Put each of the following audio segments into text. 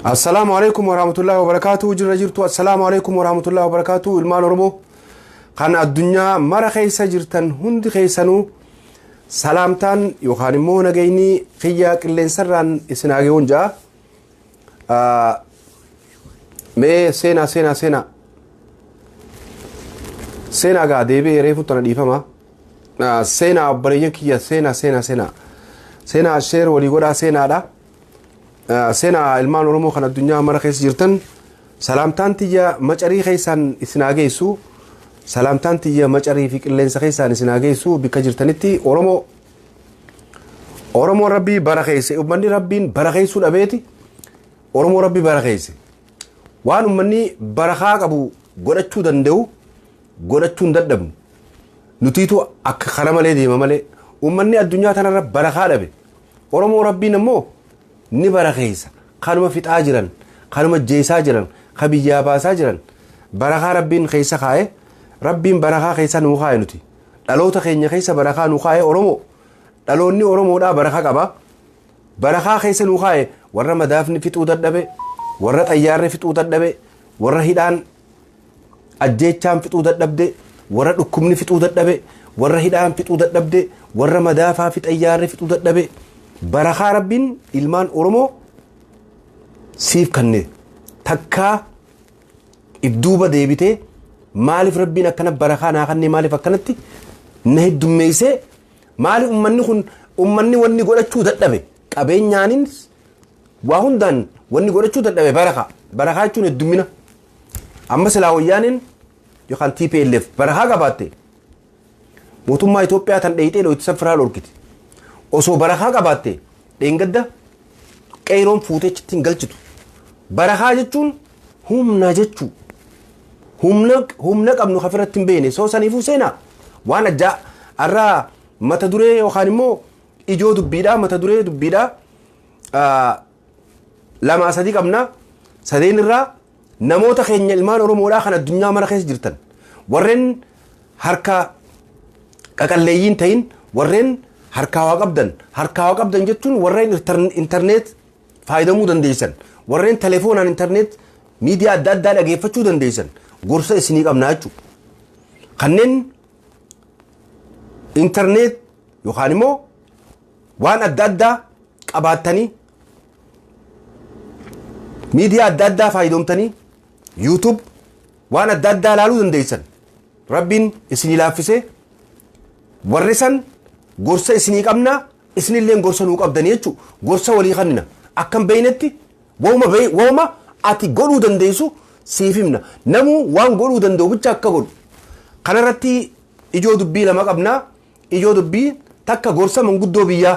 Assalaamu alaikum warahmatullahi wabarakatuh jirra jirtu assalaamu alaikum warahmatullahi wabarakatuh ilmaan oromoo kan addunyaa mara keessa jirtan hundi keessanuu salaamtaan yookaan immoo nagayni kiyya qilleensarraan isin haageewwan ja'a Ah, mee seenaa seenaa seenaa seenaa gaa deebi'ee reefu tana dhiifama Ah, seenaa obboleeyyan kiyya seenaa seenaa seenaa seenaa sheer walii godhaa seenaadha Ah, seenaa ilmaan oromoo kan addunyaa mara keessa jirtan salaamtaan tiyya macarii keessaan isin haa geessu salaamtaan tiyya macarii fi qilleensa keessaan isin haa geessu bikka jirtanitti oromoo Oromoo rabbii bara keesse ummanni rabbiin bara keessuu dhabeeti Oromoo rabbii bara keesse waan ummanni barakaa qabu godhachuu danda'u godhachuu hin dadhabnu nutiitu akka kana malee deema malee ummanni addunyaa tanarra barakaa dhabe Oromoo rabbiin ammoo ni bara keessa kanuma fixaa jiran kanuma jeesaa jiran ka biyyaa baasaa jiran barakaa rabbiin keessa kaa'e rabbiin barakaa keessa nuu kaa'e nuti. Dhaloota keenya keessa barakaa nu kaa'e Oromoo. Dhaloonni Oromoodhaa baraka qaba. Barakaa keessa nu kaa'e warra madaafni fixuu dadhabe, warra xayyaarri fixuu dadhabe, warra hidhaan ajjeechaan fixuu dadhabde, warra dhukkubni fixuu dadhabe, warra hidhaan fixuu dadhabde, warra madaafaa fi xayyaarri fixuu dadhabe. Barakaa Rabbiin ilmaan Oromoo siif kanne takkaa if duuba deebitee maalif rabbiin akkana barakaa naa kannee maalif akkanatti na heddummeessee maali ummanni kun ummanni wanni godhachuu dadhabe qabeenyaanin waa hundaan wanni godhachuu dadhabe barakaa barakaa jechuun heddummina amma silaa wayyaaneen yookaan TPLF barakaa qabaatte Mootummaa Itoophiyaa tan dheeyxee dhooytisa firaa dhorkite. Osoo barakaa qabaatte dheengadda qeeyroon fuutee chittiin galchitu. Barakaa jechuun humna jechuu. Humna, humna qabnu kafirratti hin beekne. Soo saniifuu seenaa waan ajjaa arraa mata duree yookaan immoo ijoo dubbiidhaa mata duree dubbiidhaa ah, lamaa sadii qabna sadeen irraa Namoota keenya ilmaan Oromoodhaa kan addunyaa mara keessa jirtan warreen harka qaqalleeyyiin ta'in warreen harkaa waa qabdan harkaa waa qabdan jechuun warreen irtar- intarneet faayidamuu dandeessan warreen telefoonaan intarneet miidiyaa adda addaa dhageeffachuu dandeessan gorsa isinii qabnaa jechuudha. Kanneen intarneet yookaan immoo waan adda addaa qabaattanii miidiyaa adda addaa faayidoomtanii yuutub waan adda addaa ilaaluu dandeessan rabbiin isinii laaffisee warri san gorsa isinii qabnaa isinillee gorsa nuu qabdan jechuun gorsa walii kannina akkan beeynetti wauma wauma ati godhuu dandeessu siif himna namuu waan godhuu danda'u bicha akka godhu kanarratti ijoo dubbii lama qabnaa ijoo dubbii takka gorsa manguddoo biyyaa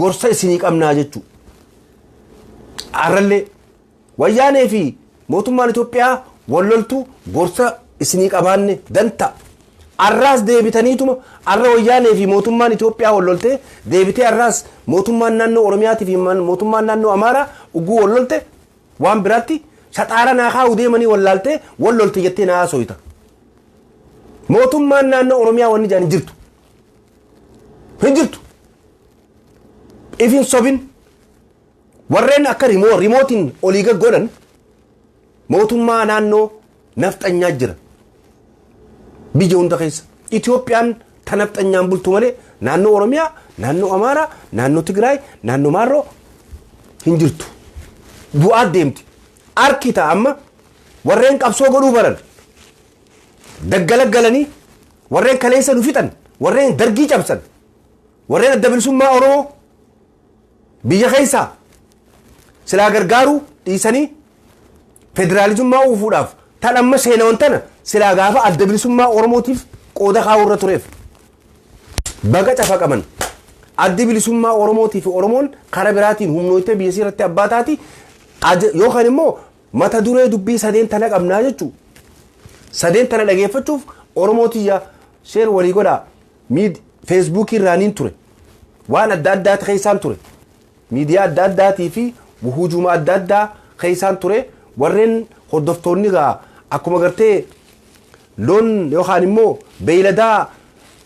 gorsa isinii qabnaa jechuu arrallee wayyaanee fi mootummaan Itoophiyaa wal loltuu gorsa isinii qabaanne dantaa arraas deebitaniituma arra wayyaanee fi mootummaan Itoophiyaa wal loltee deebitee arraas mootummaan naannoo Oromiyaatii fi mootummaan naannoo Amaaraa ugguu wal lolte waan biraatti shaxaara naa kaa'uu deemanii wal laaltee wal lolte jettee naa haasooyta. Mootummaan naannoo Oromiyaa wanni jedhan hin jirtu. hin jirtu if hin sobin warreen akka rimoo rimootiin olii gaggodhan mootummaa naannoo nafxanyaa jira biyya hunda keessa Itoophiyaan ta nafxanyaan bultu malee naannoo Oromiyaa naannoo Amaaraa naannoo Tigraay naannoo Maarroo hin jirtu du'aa deemti harki ta'a amma warreen qabsoo godhuu baran Daggalaggalanii warreen kaleessa nu fixan, warreen Dargii cabsan, warreen Adda Bilisummaa Oromoo biyya keessaa silaa gargaaruu dhiisanii federaalizummaa uufuudhaaf tan amma seenawan tana silaa gaafa Adda Bilisummaa Oromootiif qooda kaa'uu irra tureef baga cafaqaman. Addi Bilisummaa Oromootii fi Oromoon kara biraatiin humnooytee biyya isii irratti abbaa taati yookaan immoo Mata duree dubbii sadeen tana qabnaa jechuu. Sadeen tana dhageeffachuuf Oromoo tiyya sheer walii godhaa. Miid feesbuukii irraaniin ture. Waan adda addaati keessaan ture. Miidiyaa adda addaatii fi wuhuujuma adda addaa keessaan ture. Warreen hordoftoonni gaa akkuma gartee loon yookaan immoo beeyladaa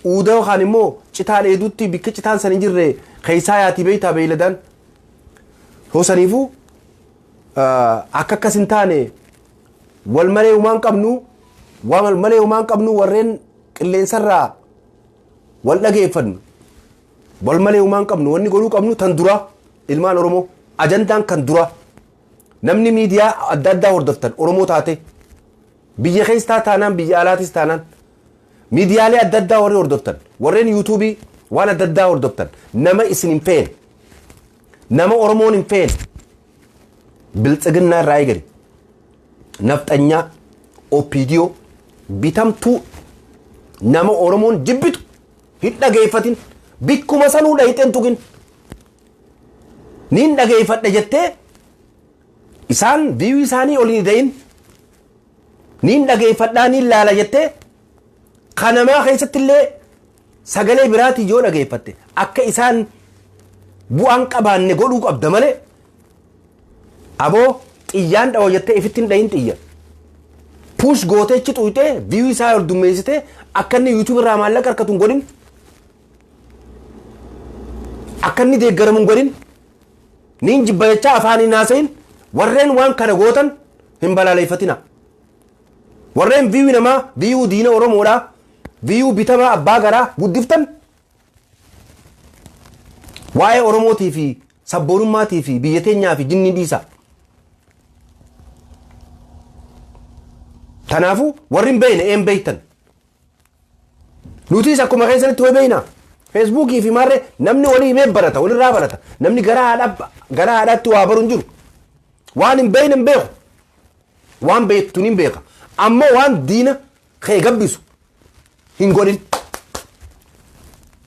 uuda yookaan immoo citaa dheeduutti bikka citaan san hin jirre keessaa yaatii beeytaa beeyladaan. Hoosaniifuu Akka akkas hin taane wal malee humaan qabnu wal malee humaan qabnu warreen qilleensarraa wal dhageeffannu wal malee humaan qabnu wanni godhuu qabnu tan duraa ilmaan Oromoo ajandaan kan duraa namni miidiyaa adda addaa hordoftan Oromoo taate biyya keessaa taanaan biyya alaatis taanaan miidiyaalee adda addaa warri hordoftan warreen yuutuubii waan adda addaa hordoftan nama isin hin feene Nama Oromoon hin feene biltsiginnaa irraa eegale nafxanyaa opiidiyoo bitamtuu nama Oromoon jibbitu hin dhageeffatin bikkuma sanuu dhayixeen tuqin niin dhageeffadhe jettee isaan viiyuu isaanii ol hin ida'in niin dhageeffadhaa niin laala jettee kanamaa keessatti illee Sagalee biraatiin yoo dhageeffatte akka isaan bu'aan qabaanne godhuu qabda malee aboo xiyyaan dhawa jettee ifitti hin dhahin xiyya. Puush gootee ichi xuyxee viyuu isaa ol dummeessitee akka inni yuutuubii irraa maallaqa harkatu hin godhin. Akka inni deeggaramu hin godhin. Niin jibba jechaa afaaniin haasa'iin warreen waan kana gootan hin balaaleffatina. Warreen view namaa, view diina Oromoodhaa, view bitamaa abbaa garaa guddiftan waa'ee Oromootii fi sabboonummaatii fi biyya teenyaa fi jinnii dhiisaa. Kanaafuu warri hin beekne een beektan. Nutis akkuma keessanitti wal beekna. Feesbuukii fi maarree namni walii himee barata, walirraa barata. Namni gara haadha gara haadhaatti waa baru hin jiru. Waan hin beekne hin beeku. Waan beektu ni beeka. Ammoo waan diina kee gabbisu hin godhin.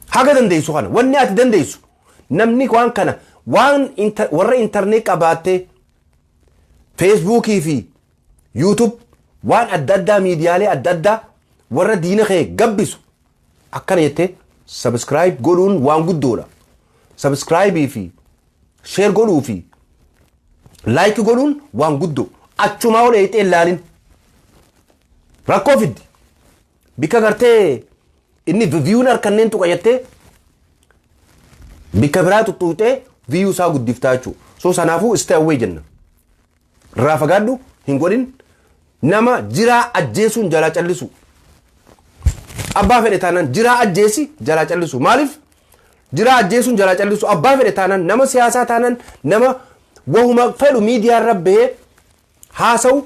Haga dandeessu kana wanni ati dandeessu namni waan kana waan inter- warra intarneet qabaattee feesbuukii fi YouTube waan adda addaa miidiyaalee adda addaa warra diina kee gabbisu akkana jettee subscribe godhuun waan guddoodha. Subscribe fi share godhuu fi like godhuun waan guddoo achumaa ol eeyxee ilaalin rakkoo fiddi. Bikka gartee inni viyuun harkanneen tuqa jettee bikka biraa tuttuutee viyuu isaa guddiftaa jechuudha. So sanaafuu stay away jenna. Irraa fagaadhu hin godhin nama jiraa ajjeesuun jalaa callisu. Abbaa fedhe taanaan jiraa ajjeesi jalaa callisu. Maaliif jiraa ajjeesuun jalaa callisu abbaa fedhe taanaan nama siyaasaa taanaan nama wahuma fedhu miidiyaa irra bahee haasa'u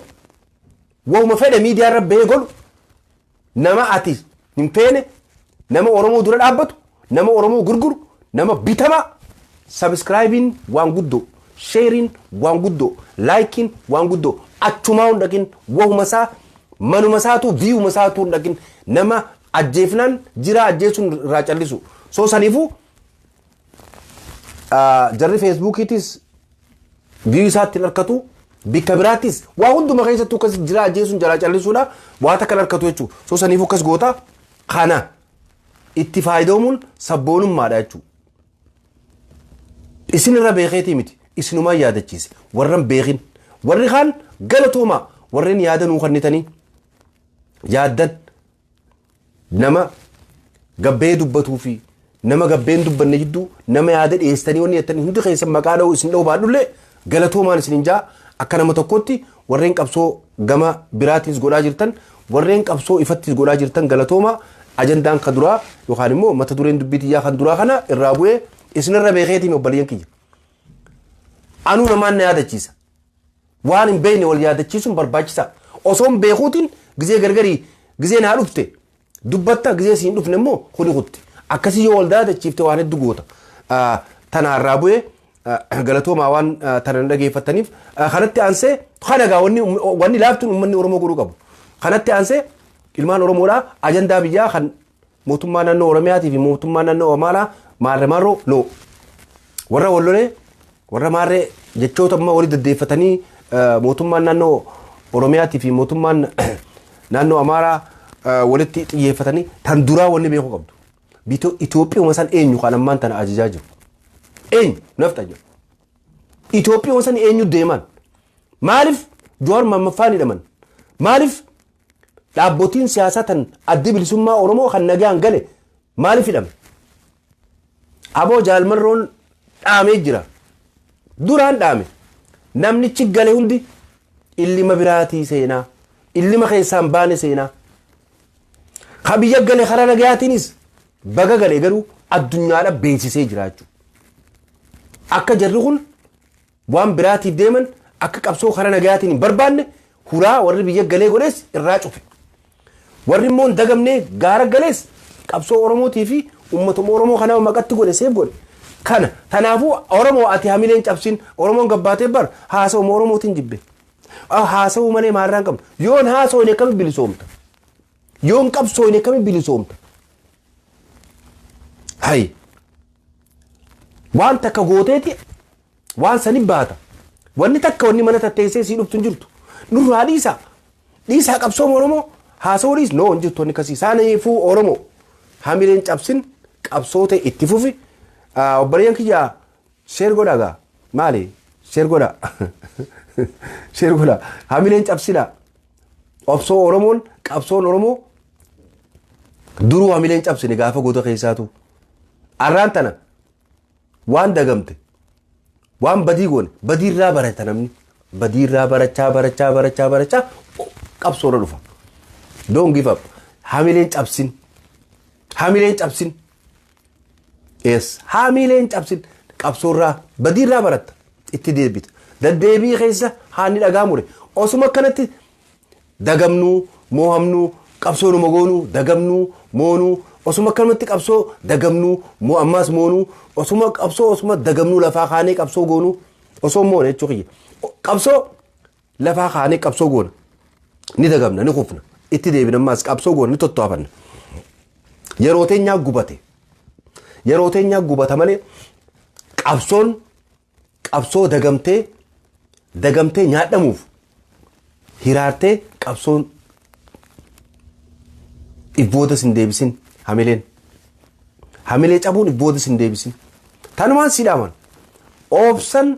wahuma fedhe miidiyaa irra bahee godhu Nama ati hin feene, nama Oromoo dura dhaabbatu, nama Oromoo gurguru, nama bitamaa. Sabiskiraayibiin waan guddoo, sheeriin waan guddoo, laayikiin waan guddoo achumaa hin dhaqin wahuma isaa manuma isaatu viiyuma isaatu hin dhaqin nama ajjeefnaan jiraa ajjeesuun irraa callisu. So saniifuu ah, jarri feesbuukiitis viyuu isaatti hin harkatu bikka biraattis waa hunduma keessattuu akkas jira ajjeesuun jalaa callisuudha waa takka hin harkatu jechuudha so saniif akkas goota kana itti faayidoomuun sabboonummaadha jechuudha. isin irra beekeetii miti isinumaa yaadachiise warran beekin warri kaan galatoomaa warreen yaada nuu kennitanii yaaddan nama gabbee dubbatuu fi nama gabbee hin dubbanne jidduu nama yaada dhiyeessitanii wanni jettanii hundi keessan maqaa dha'uu isin dha'uu baadhullee galatoomaan isin hin jaa akka nama tokkotti warreen qabsoo gama biraatiis godhaa jirtan warreen qabsoo ifattiis godhaa jirtan galatoomaa ajandaan kan duraa yookaan immoo mata dureen dubbii tiyyaa kan duraa kana irraa bu'ee isinirra beekeetiin obboleeyyan kiyya. Anuu namaan na yaadachiisa. Waan hin beekne wal yaadachiisuun barbaachisaa dha. Osoo hin beekuutiin gizee gargarii gizee naa dhufte dubbatta gizee siin dhufne immoo kuni kutte. Akkasii yoo wal daadachiifte waan hedduu goota. Ah, Tanaa irraa bu'ee ah, galatoomaa waan ah, tana na dhageeffattaniif Ah, kanatti aansee kana egaa wanni um- wanni laaftuun uummanni Oromoo godhuu qabu. Kanatti aansee ilmaan Oromoodhaa ajandaa biyyaa kan Mootummaa naannoo Oromiyaatii fi mootummaa naannoo Amaaraa maarre marroo no warra wal lolee warra maarre jechoota amma wali deddeeffatanii eh, mootummaan naannoo Oromiyaatii fi mootummaan naannoo Amaaraa eh, walitti xiyyeeffatanii tan duraa wanni beekuu qabdu. Biito- Itoophiyuma san eenyu kan ammaan tana ajajaa jiru. Eenyu nafxa jiru. Itoophiyuma san eenyu deeman. Maaliif Jowaar Maammaffaan hidhaman? Maaliif Dhaabbotiin siyaasaa tan Addi Bilisummaa Oromoo kan nagaan gale maaliif hidhame? Aboo Jaal Marroon dhaamee jira. Duraan dhaame. Namnichi gale hundi illima biraatii seenaa. Illima keessaan baane seenaa. Ka biyya gale karaa nagayaatiinis baga gale garuu addunyaadha beeksisee jiraachuu. Akka jarri kun waan biraatiif deeman akka qabsoo karaa nagayaatiin hin barbaanne hulaa warri biyya galee godhees irraa cufe. Warri immoo hin dagamnee gaara galees qabsoo Oromootii fi uummatuma Oromoo kanaa maqatti godhe seef godhe. Kana tanaafuu Oromoo ati hamileen cabsin Oromoon gabbaatee bar haasawuma Oromootiin jibbe. Haasawuu malee maarraa hin qabne. Yoon haasawne akkamitti bilisoomta? Yoo hin qabsooyne akkamiin bilisoomta? Hayi. Waan takka gooteeti waan san hin baata. Wanni takka wanni mana tatteessee sii dhuftu hin jirtu. Nurraa dhiisaa. Dhiisaa qabsooma Oromoo haasawuu dhiis. Noo hin jirtu wanni kasii. Saaniifuu Oromoo hamileen cabsin qabsootee itti fufi. Ah, Obboleeyyan kiyyaa Share godha gaa maali share godha share godha hamileen cabsina obsoo oromoon qabsoon oromoo duruu hamileen cabsine gaafa goota keessaatu arraan tana waan dagamte waan badii goone badii irraa barata namni badii irraa barachaa barachaa barachaa barachaa qabsoo irra dhufa don't give up hamileen cabsin hamileen cabsin Yes. Haamiilee hin cabsin. Qabsoorraa badiirraa baratta. Itti deebita. Daddeebii keessa haanni dhagaa mure. Osuma akkanatti dagamnuu, moohamnuu, qabsoo numa goonuu, dagamnuu, moonuu, osuma akkanumatti qabsoo dagamnuu, moo ammaas moonuu, osuma qabsoo osuma dagamnuu lafaa kaanee qabsoo goonuu, osoo moone jechuu kiyya. O- Qabsoo Lafaa kaanee qabsoo goona. Ni dagamna, ni kufna. Itti deebina ammaas qabsoo goona, ni tottoofanna. Yeroo teenyaa gubate. Yeroo teenyaa gubata malee qabsoon qabsoo dagamtee dagamtee nyaadhamuuf hiraartee qabsoon if boodas hin deebisin hamileen. Hamilee cabuun if boodas hin deebisin. Tanumaan siidhaaman. Oobsan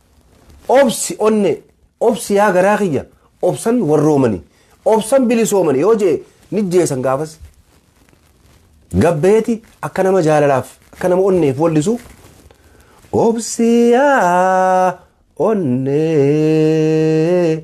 Obsi onnee, obsi yaa garaa kiyya, obsan warroomani, obsan bilisoomani yoo je'e nijjeesan gaafas. Gabbeeti akka nama jaalalaaf, akka nama onneef wallisu obsi yaa onnee.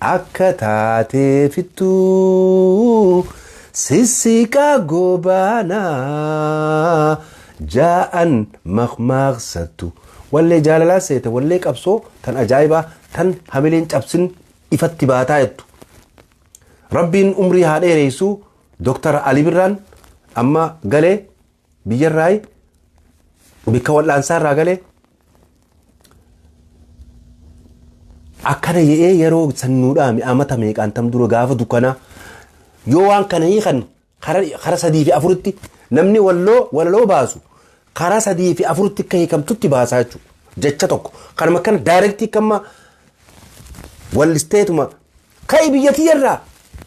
Akka taatee fittuu sissiqaa goobaanaa jaa'an makmaaksattu. Wallee jaalalaa seete wallee qabsoo tan ajaa'ibaa tan hamileen cabsin ifatti baataa jettu. Rabbiin umrii haa dheereessu Dooktar Ali Birraan amma galee biyyarraayi bikka wal'aansaarraa galee akkana jedhee yeroo sannuudhaami amata meeqaan tam dura gaafa dukkanaa yoo waan kana hiikan kara sadii fi afuritti namni walloo walaloo baasu karaa sadii fi afuritti akka hiikamtutti baasaa jechuudha. Jecha tokko kanuma kana daayirektii kamma wallisteetuma ka'i biyyatii irraa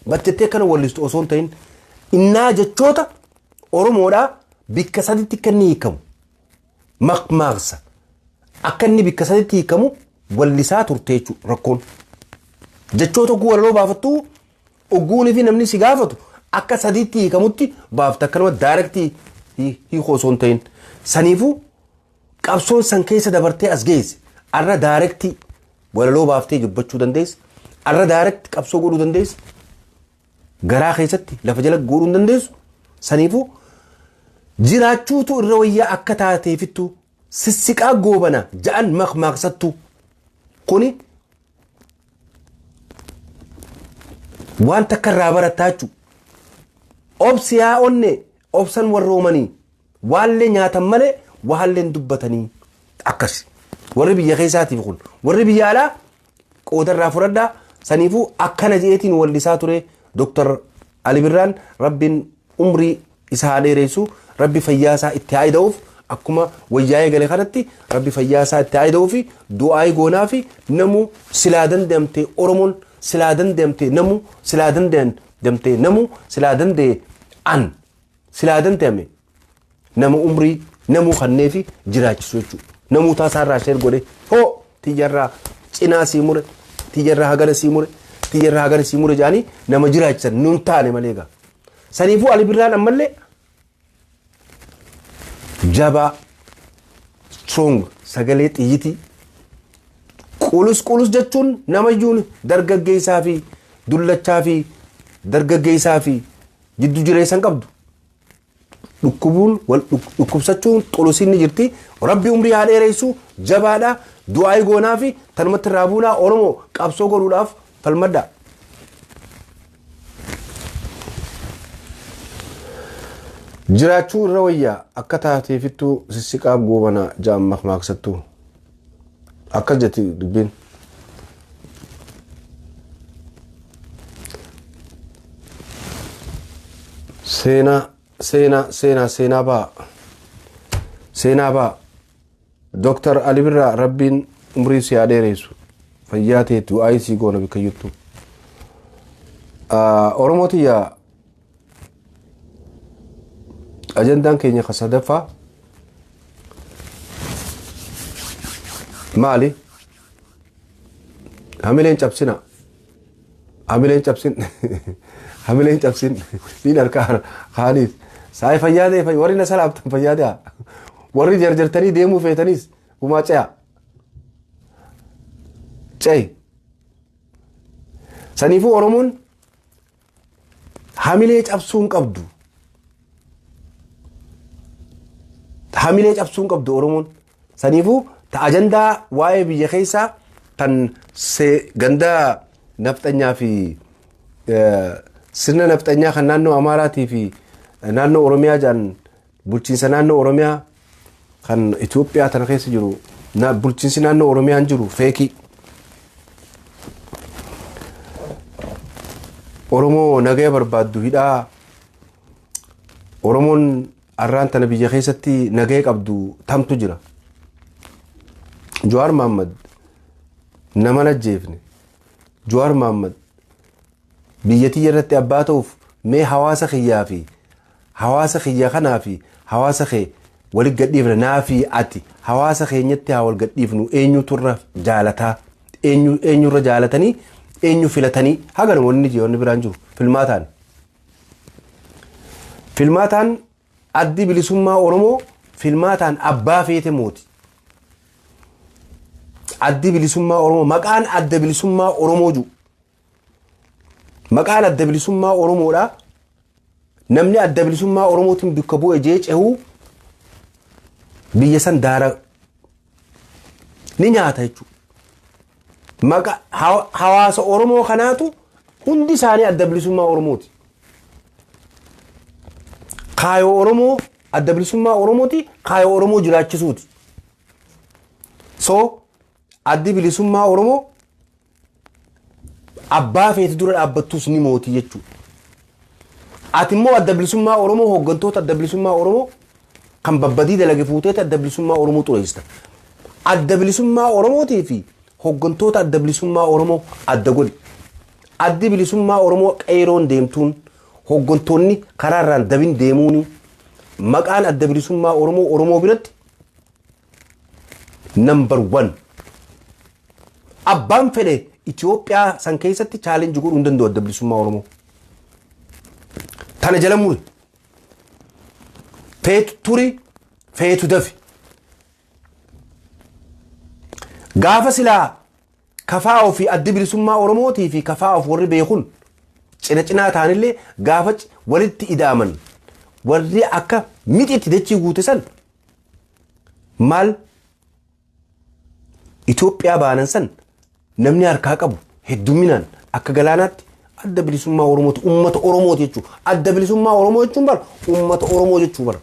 battettee kana wallistu osoo hin ta'in innaa jechoota Oromoodhaa bikka saditti akka inni hiikamu makmaaksa akka inni bikka saditti hiikamu wallisaa turte jechuudha rakkoon. Jechoota oguu walaloo baafattu oguunii fi namni si gaafatu akka sadiitti hiikamutti baafta akka nama daayirektii hiikoo osoo hin ta'in. Saniifuu qabsoon san keessa dabartee as geesse arra daayirektii walaloo baaftee dubbachuu dandeessa arra daayirektii qabsoo godhuu dandeessa garaa keessatti lafa jala guuruu hin dandeessu. Saniifuu jiraachuutu irra wayyaa akka taateefittu sissiqaa goobana ja'an makmaaksattu. Kuni waan takka irraa barattaa jechuudha. Obsi yaa onne obsan warroomanii waallee nyaatan malee waalleen dubbatanii akkasi. Warri biyya keessaatiif kun warri biyya alaa qooda irraa fudhadhaa saniifuu akkana je'eetiin wallisaa ture Dr. Ali Birraan rabbiin umrii isa haa dheereessu rabbi fayyaa isaa itti haa ida'uuf akkuma wayyaa'ee gale kanatti rabbi fayyaa isaa itti haa ida'uufi du'aa'ii goonaa fi namu silaa danda'amte Oromoon silaa danda'amte namu silaa danda'amte namu silaa danda'e an silaa danda'ame Nama umrii namuu kannee fi jiraachisu jechuudha. Namuu taasaa irraa sheer godhee hoo tiyyarraa cinaa sii mure tiyyarraa hagana sii mure tiyyarraa hagana sii mure jedhanii nama jiraachisan nun taane malee egaa. Saniifuu Ali Birraan ammallee jabaa strong sagalee xiyyitii qulus qulus jechuun namayyuun dargaggeessaa fi dullachaa fi dargaggeessaa fi jiddu jireessan qabdu. dhukkubuun wal dhuk- dhukkubsachuun xulusiin ni jirti rabbi umrii haa dheereessu jabaadha du'aayi goonaa fi tanumatti irraa buunaa oromoo qabsoo godhuudhaaf falmadha jiraachuu irra wayyaa akka taateefittuu sissiqaa goobana ja'an makmaaksattuu Akkas jetti dubbiin. Seenaa seenaa seenaa seenaa baa seenaa baa Dooktar Ali Birraa rabbiin umrii si haa dheeressu fayyaa teetti waa'ee sii goona bakka jirtu. Oromoo tiyyaa Ajandaan keenya ka sadaffaa maali? Hamileen cabsina. Hamileen cabsin. Hamileen cabsin. Niin harkaa kaaniif. Saayii fayyaadee fayyaa. Warri na salaamtan fayyaadaa. Warri jarjartanii deemuu feetanis gumaa ce'a. Ce'i. Saniifuu Oromoon Hamilee cabsuu hin qabdu. Hamilee cabsuu hin qabdu Oromoon. Saniifuu ta ajandaa waa'ee biyya keessaa tan se- ganda nafxanyaa fi eh, sirna nafxanyaa kan naannoo Amaaraatii fi eh, naannoo Oromiyaa jedhan Bulchiinsa naannoo Oromiyaa kan Itoophiyaa tana keessa jiru na- bulchiinsi naannoo Oromiyaan jiru feekii. Oromoo nagaya barbaaddu hidhaa Oromoon arraan tana biyya keessatti nagaya qabdu tamtu jira. Jawaar Mahaammad nama hin ajjeefne. Jawaar Mahaammad biyyattii irratti abbaa ta'uuf mee hawaasa kiyyaa fi Hawaasa kiyya kanaa fi hawaasa kee walitti gadhiifna naa fi ati hawaasa keenyatti haa wal gadhiifnu eenyutu irra jaalataa eenyu eenyu irra jaalatanii eenyu filatanii haganuma wanni jee wanni biraan jiru filmaataan filmaataan addi bilisummaa oromoo filmaataan abbaa feete mooti addi bilisummaa oromoo maqaan adda bilisummaa oromoo jiru Maqaan adda bilisummaa Oromoodha. Namni adda bilisummaa Oromootiin bakka bu'e jee cehu biyya san daara ni nyaata jechuudha. Maqa hawa- hawaasa Oromoo kanaatu hundi isaanii adda bilisummaa Oromooti. Kaayoo Oromoo adda bilisummaa Oromooti kaayoo Oromoo jiraachisuuti. So addi bilisummaa Oromoo Abbaa feete dura dhaabbattus ni mooti jechuudha. Ati immoo adda bilisummaa Oromoo hooggantoota adda bilisummaa Oromoo kan babbadii dalage fuuteeti adda bilisummaa Oromoo xureessita. Adda bilisummaa Oromootii fi hooggantoota adda bilisummaa Oromoo adda godhi. Addi bilisummaa Oromoo qeeroon deemtuun hooggantoonni karaa irraan dabin deemuun maqaan adda bilisummaa Oromoo Oromoo biratti Number one. Abbaan fedhe Itoophiyaa san keessatti challenge godhuu hin danda'u adda bilisummaa Oromoo. Tana jala muri. Feetu turi, feetu dafi. Gaafa silaa kafaa ofii adda bilisummaa Oromootii fi kafaa of warri beekun cina cinaa taanillee gaafa c- walitti ida'aman warri akka mixitti dachii guute san Maal Itoophiyaa baanan san namni harkaa qabu heddumminaan akka galaanaatti adda bilisummaa Oromooti. Uummata Oromooti jechuudha. Adda bilisummaa Oromoo jechuun bara uummata Oromoo jechuu bara.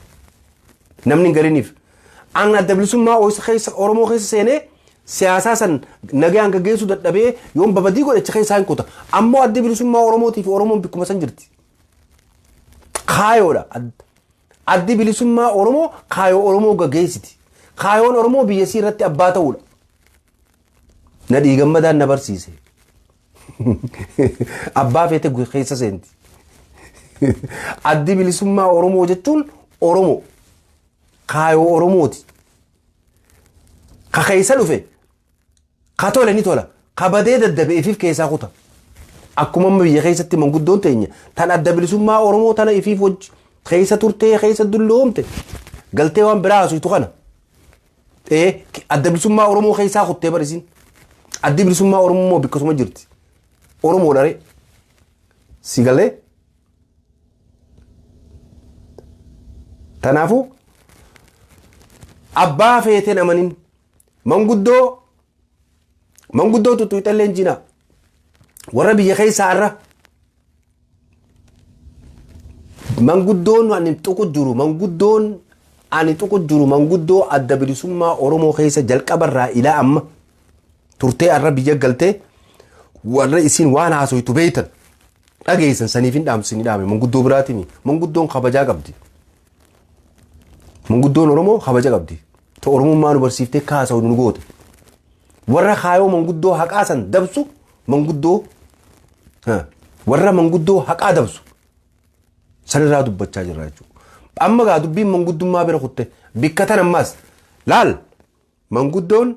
Namni hin galiniif. An adda bilisummaa Ooyisa keessa Oromoo keessa seenee siyaasaa san nagaan gaggeessuu dadhabee yoon babadii godhe achi keessaa hin kuta. Ammoo adda bilisummaa Oromootii fi Oromoon bikkuma san jirti. Kaayoodha. Ad- Addi Bilisummaa Oromoo kaayoo Oromoo gaggeessiti. Kaayoon Oromoo biyya isii irratti abbaa ta'uudha. Nadhii gammadaan na barsiise. Abbaa feete keessa seenti. Addi Bilisummaa Oromoo jechuun Oromoo. Kaayoo Oromooti. Ka keessa dhufe Ka tole ni tola, ka badee daddabe ifiif keessaa kuta. Akkuma amma biyya keessatti manguddoon teenya tan adda bilisummaa Oromoo tana ifiif wajji keessa turtee keessa dulloomte galtee waan biraa haasoftu kana. Ee adda bilisummaa Oromoo keessaa kuttee bar isin. Addi bilisummaa Oromoo immoo bikkasuma jirti. Oromoo dharee. Si galee? Kanaafuu abbaa feeteen amanin Manguddoo manguddoo tuttuuxallee jinaa warra biyya keessaa irra manguddoon ani tuqu jiru manguddoon ani tuqu jiru manguddoo adda bilisummaa Oromoo keessa jalqabarraa ilaa amma turtee arra biyya galtee warra isin waan haasoytu beeytan dhageessan saniif hin dhaamsin dhaame manguddoo biraatiin manguddoon kabajaa qabdi. Manguddoon Oromoo kabaja qabdi. Ta Oromummaa nu barsiiftee kaasa'u nu goote. Warra kaayoo manguddoo haqaa san dabsu manguddoo ha, warra manguddoo haqaa dabsu sanirraa dubbachaa jirra jechuudha. Amma gaa dubbiin manguddummaa bira kutte bikka tan ammaas laal Manguddoon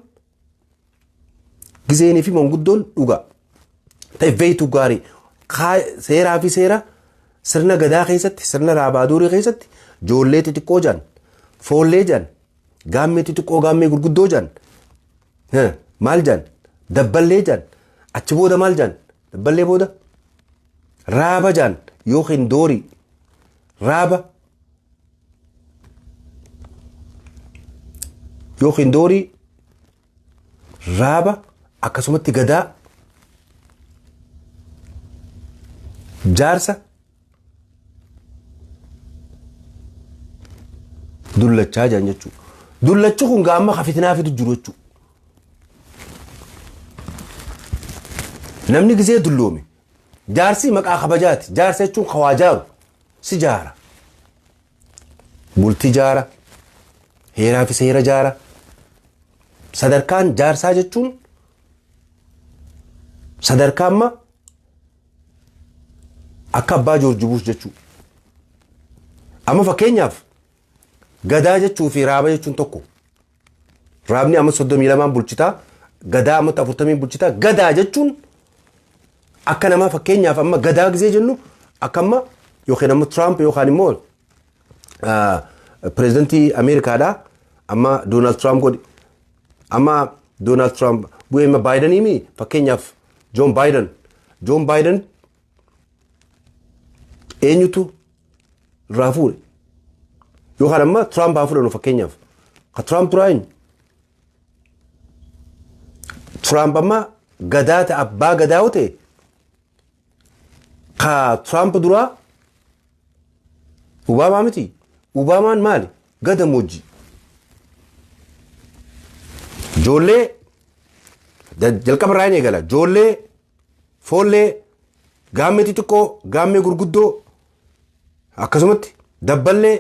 gizeenii fi manguddoon dhugaa ta'e beeytu gaarii seeraa fi seera sirna gadaa keessatti sirna raabaaduurii keessatti joollee xixiqqoo jedhan foollee jedhan gaammee xixiqqoo gaammee gurguddoo jedhan maal jedhan dabballee jedhan achi booda maal jedhan dabballee booda raaba jedhan yookiin doorii raaba yookiin doorii raaba akkasumatti gadaa jaarsa dullachaa jiran jechuudha. Dullachi kun gaamma ka fitinaa fidu jiru jechuudha. Namni gisee dulloome Jaarsii maqaa kabajaati. Jaarsa jechuun ka waa jaaru. Si jaara. Bulti jaara. Heeraa fi seera jaara. Sadarkaan jaarsaa jechuun sadarkaa amma akka abbaa Joorji Buush jechuu. Amma fakkeenyaaf gadaa jechuu fi raaba jechuun tokko. Raabni amma 32 bulchitaa gadaa amma 40 bulchitaa gadaa jechuun akka namaa fakkeenyaaf amma gadaa gisee jennu akka amma yookiin amma Tiraamp yookaan immoo pireezidantii Ameerikaadha amma Doonaald Tiraamp godhi amma Doonaald Tiraamp bu'ee amma Baayidanii mi fakkeenyaaf Joon Baayidan Joon Baayidan Eenyutu irraa fuudhe? Yookaan amma Tiraamp haa fudhannu fakkeenyaaf. Ka Tiraamp turaa eenyu? Tiraamp amma gadaa ta'e abbaa gadaa yoo ta'e ka Tiraamp duraa Obaamaa miti. Obaamaan maali? Gada moojjii. Ijoollee jalqaba irraa hin eegala. Ijoollee Foollee, gaammee xixiqqoo, gaammee gurguddoo akkasumatti dabballee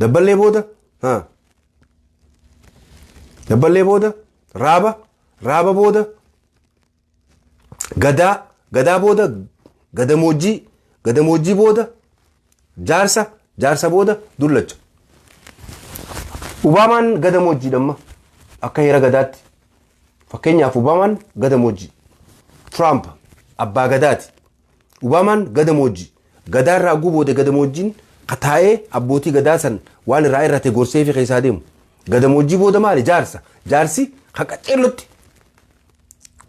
dabballee booda ha dabballee booda raaba raaba booda gadaa gadaa booda gadamoojjii gadamoojjii booda Jaarsa, jaarsa booda dullacha. Ubaamaan gada moojjiidha amma akka heera gadaatti. Fakkeenyaaf Ubaamaan gada moojjii. Tiraamp abbaa gadaati. Ubaamaan gada moojjii. Gadaa irraa oguu booda gada moojjiin kataa'ee abbootii gadaa san waan irraa irrate gorsee fi keessaa deemu. Gada moojjii booda maali? Jaarsa. Jaarsi ka qaceellotti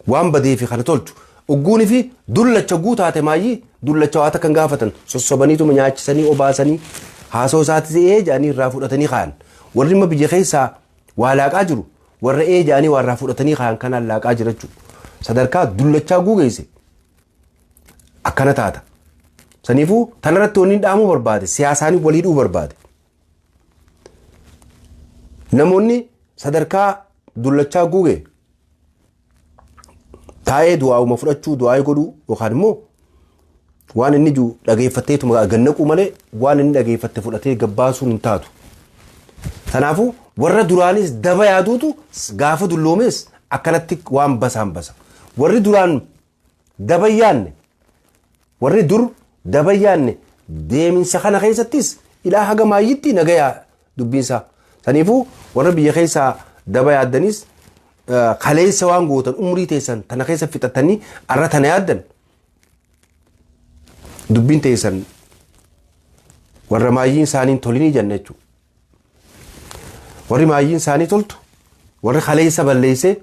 Waan badeefi kana tolchu. Ugguunifi dullacha ogguu taate maayyii dullacha waa takka hin gaafatan. Sossobaniituma nyaachisanii obaasanii haasoo isaatis ee jedhanii irraa fudhatanii kaayan. Warri amma biyya keessaa waa laaqaa jiru warra ee jedhanii waa irraa fudhatanii kaayan kanaan laaqaa jira jechuudha. Sadarkaa dullachaa ogguu geesse akkana taata. Saniifuu tanarratti wanni dhaamuu barbaade siyaasaan walii dhuu barbaade. Namoonni sadarkaa dullachaa guugee taa'ee du'aa'uma fudhachuu du'aa'ee godhuu yookaan immoo waan inni jiru dhageeffatteetuma gannaquu malee waan inni dhageeffatte fudhatee gabbaasuun hin taatu. Kanaafuu warra duraanis daba yaaduutu gaafa dulloomees akkanatti waan basaan basa. Warri duraan Daba hin yaanne. Warri dur daba hin yaanne deeminsa kana keessattis ilaa haga maayyitti nagaya dubbiinsaa. Saniifuu warra biyya keessaa daba yaaddanis kaleessa waan gootan umrii teessan tana keessa fixattanii arra tana yaaddan dubbiin teessan warra maayyiin isaanii tolinii jenna jechuudha. Warri maayyiin isaanii toltu warri kaleessa balleessee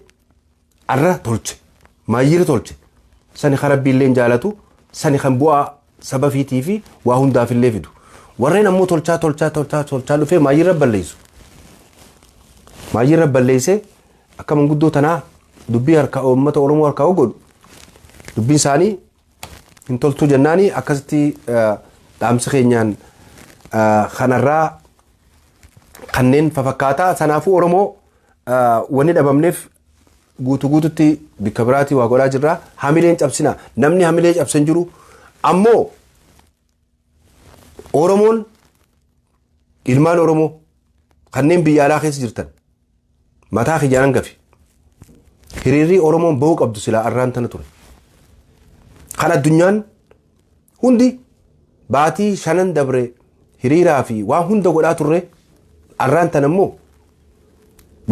arra tolche maayyira tolche sani ka rabbiilleen jaalatu sani kan bu'aa saba fiitii fi waa hundaafillee fidu warreen ammoo tolchaa tolchaa tolchaa tolchaa dhufee maayyirra balleessu maayyirra balleessee akka manguddoo tanaa dubbii harka uummata oromoo harkaa godhu dubbiin isaanii hin toltuu jennaanii akkasitti eh, dhaamsi keenyaan eh, kanarraa kanneen fafakkaataa sanaafuu oromoo Wanni dhabamneef guutuu guututti bikka biraatii waa godhaa jirra. Hamileen cabsina. Namni hamilee cabsan jiru. Ammoo Oromoon ilmaan Oromoo kanneen biyya alaa keessa jirtan mataa kiyyaan hangafi. Hiriirrii Oromoon ba'uu qabdu silaa arraan tana ture. Kan addunyaan Hundi baatii shanan dabre hiriiraa fi waan hunda godhaa turre arraan tan ammoo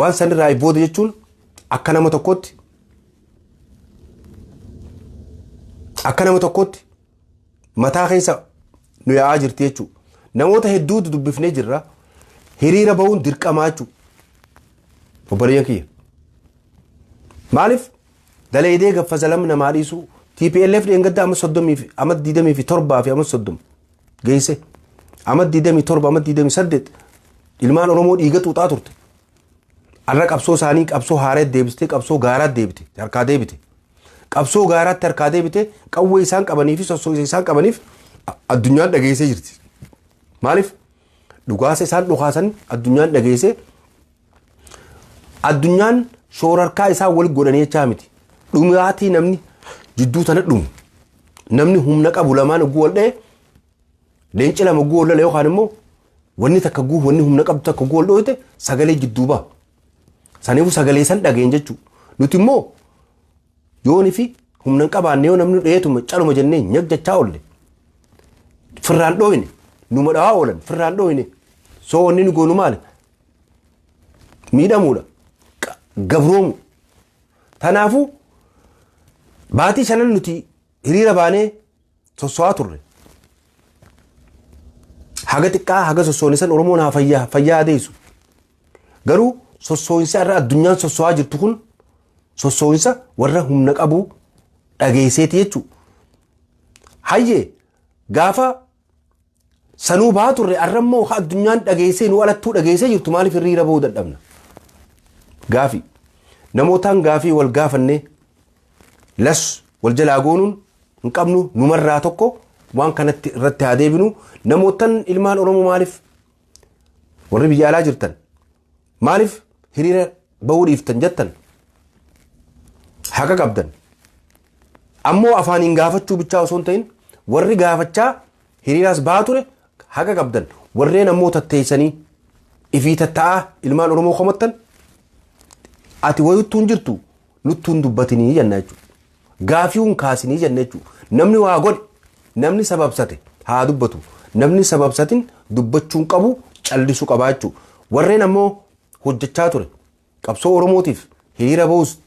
waan sanirraa booda jechuun akka nama tokkootti akka nama tokkootti mataa keessa nu yaa'aa jirti jechuudha. Namoota hedduutu dubbifnee jirra. Hiriira bahuun dirqamaa jechuudha. Obboleeyyan kiyya. Maaliif Dalaydee gaffa zalam namaa dhiisuu tplf dheengadda ama 30 fi ama 27 fi ama 30 geeyse ama 27 ama 28 ilmaan oromoo dhiiga xuuxaa turte arra qabsoo isaanii qabsoo haareet deebiste qabsoo gaaraat deebite harkaa deebite qabsoo gaaraatti harkaa deebite qawwee isaan qabanii fi sossoisa isaan qabaniif a- addunyaan dhageessee jirti maaliif dhugaasa isaan dhukaasan addunyaan dhageessee Addunyaan shoorarkaa isaa wal godhanii jechaa miti. Dhumaatii namni jidduu tana dhumu. Namni humna qabu lamaan oguu wal dha'e leenci lama oguu wal lola yookaan immoo wanni takka oguu wanni humna qabdu takka oguu wal dhooyte sagalee jidduu ba'a. Saniifuu sagalee san dhageen jechuudha. Nuti immoo yoonii fi humna hin qabaanne yoo namni dheetuma caluma jennee nyag jechaa oolle. Firraan dhooyne numa dhawaa oolan firraan dhooyne. Soo wanni nu goonu maali? miidhamuudha qa- gabroomu tanaafuu baatii shanan nuti hiriira baanee sosso'aa turre haga xiqqaa haga sossoonisan oromoon haa fayyaa fayyaa adeessu garuu sossoonsa irra addunyaan sosso'aa jirtu kun sossoonsa warra humna qabu dhageesseeti jechuu hayyee gaafa Sanuu bahaa turre arra immoo ha addunyaan dhageessee nu alattuu dhageessee jirtu maaliif hiriira bahuu dadhabna? Gaafii. Namootaan gaafii wal gaafannee las wal jalaa goonuun hin qabnu numarraa tokko waan kanatti irratti haa deebinu namootan ilmaan Oromoo maaliif warri biyya alaa jirtan Maaliif hiriira bahuu dhiiftan jettan haqa qabdan. Ammoo afaaniin gaafachuu bichaa osoo hin ta'in warri gaafachaa hiriiraas bahaa ture haqa qabdan. Warreen ammoo tatteessanii ifii tatta'aa ilmaan Oromoo komattan ati wayuttuu hin jirtu nuttuu hin dubbatinii jenna jechuudha. Gaafii hin kaasinii jenne jechuu. Namni waa godhe, namni sababsate haa dubbatu. Namni sababsatin dubbachuu hin qabu callisu qabaa jechuu. Warreen ammoo hojjechaa ture. Qabsoo Oromootiif hiriira bahus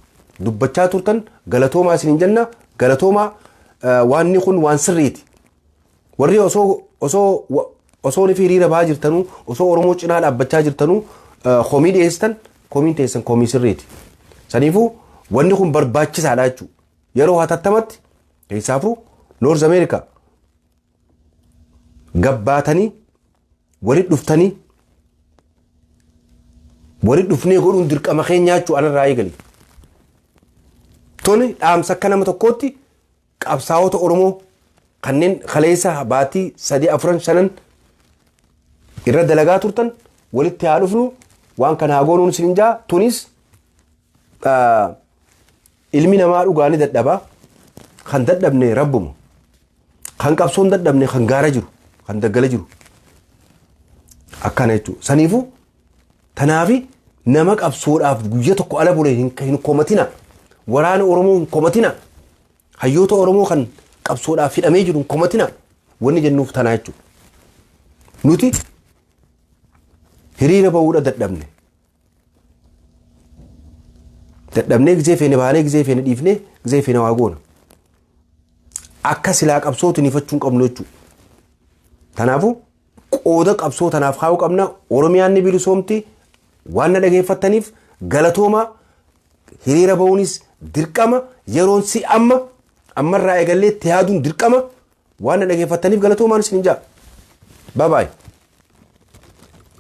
dubbachaa turtan galatoomaa isinin jenna. Galatoomaa waanni kun waan sirriiti. Warri osoo osoo wa- osoo rifii hiriira bahaa jirtanuu osoo Oromoo cinaa dhaabbachaa jirtanuu eh, komii dhiyeessitan komiin teessan komii sirriiti. Saniifuu wanni kun barbaachisaadha jechuudha. Yeroo hatattamatti keessaafuu Noorz Ameerikaa gabbaatanii walitti dhuftanii walitti dhufnee godhuun dirqama keenyaa jechuudha anarraa eegali. Tuni dhaamsa akka nama tokkootti Qabsaawota Oromoo kanneen kaleessa baatii sadii afran shanan irra dalagaa turtan walitti haa dhufnu waan kana haa goonuun isin jaa tunis ah, ilmi namaa dhugaa ni dadhaba kan dadhabne rabbuma kan qabsoon dadhabne kan gaara jiru kan daggala jiru akkana jechuudha saniifuu Tanaafi nama qabsoodhaaf guyya tokko ala bule hin, hin komatina. Waraana Oromoo hin komatina. Hayyoota Oromoo kan qabsoodhaaf hidhamee jiru hin komatina. Wanni jennuuf tanaa jechuudha. Nuti hiriira ba'uudha dadhabne. Dadhabnee gizee feene baanee gizee feene dhiifnee gizee feene waa goona. Akka silaa qabsootu nifachuun qabnu jechuudha. Kanaafuu Qooda qabsoo tanaaf kaa'uu qabna. Oromiyaan ni bilisoomti. Waan na dhageeffattaniif galatooma hiriira ba'uunis dirqama yeroon si amma ammarraa eegallee itti yaaduun dirqama waan na dhageeffattaniif galatoomaan isin hin jaa. Bye bye.